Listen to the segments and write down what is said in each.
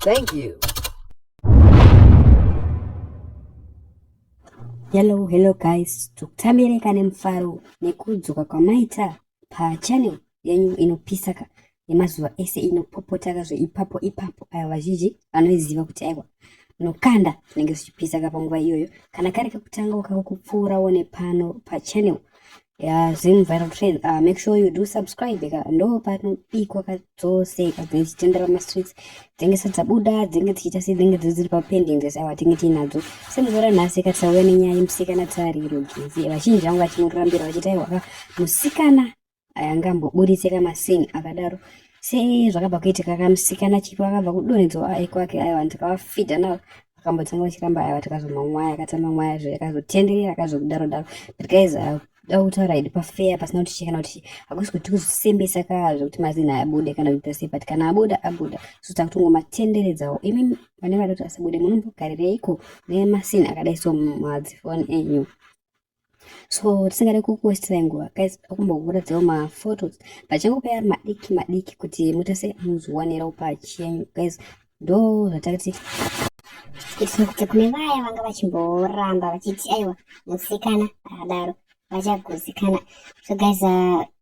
Thank you. Hello, hello guys, tukutambirenka nemufaro nekudzoka kwamaita pachannel yenyu inopisa ka yemazuva ese inopopota ka zveipapo ipapo ayo vazhinji vanoiziva kuti aiwa unokanda zvinenge zvichipisa ka panguva iyoyo kana kari kakutanga ukako kupfuura one pano pachannel ya zim viral trend uh, make sure you do subscribe ka ndo panobikwa ka dzose ikabva ichitendera mastreets dzenge sadzabuda dzenge dzichiita sei dzenge dziri papending dzese awa tinge tiinadzo semuzora nhasi katisauya nenyaya yemusikana tsariro gezi vazhinji vangu vachimurambira vachiti aiwaka musikana ayange amboburitse kamasing akadaro sezvakabva kuitika kamusikana chipo akabva kudonhedzwa aikwake aiwa ndikavafidha navo akambotanga vachiramba aya vati kazomwa mwaya akatamba mwaya zve akazotenderera akazokudaro daro but guys uh, da kutaura idi pafeya pasina kuti chekana kuti hakusi kuti tikusembesa kaa zvekuti mazina abude kana kuita sei but kana abuda abuda so takutongomatenderedzawo imi vane vari kuti asabude munombogarireiko nemasina akadai so madzifoni enyu so tisingade kukuwestirai nguva guys akumbokuratidzawo maphotos pachanguva yari madiki madiki kuti mutase muzviwanirawo pachenyu guys ndo zvatakati isu kuti kune vaya vanga vachimboramba vachiti aiwa musikana akadaro vachagutsikana so guys uh,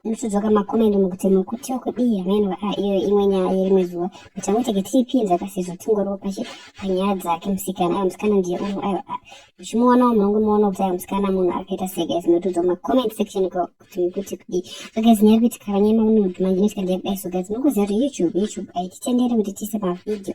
Ndinotodzoka makomendo mukuti mukuti wekudii ameno aa ah, iyo imwe nyaya yerimwe zuva kuti angoteke tiripinza kasizvo tingoriwo pashi panyaya dzake musikana ayo musikana ndiye uno ayo ah, muchimuonawo munonge muona kuti ayo musikana munhu akaita sei guys ndinotodzoka macoment section ko kuti mukuti kudii so guys nyaya yekuti kavanyema unodu manje inoitika ndeyakudai so guys munokuziva kuti youtube youtube aititendere kuti tiise mavhidhio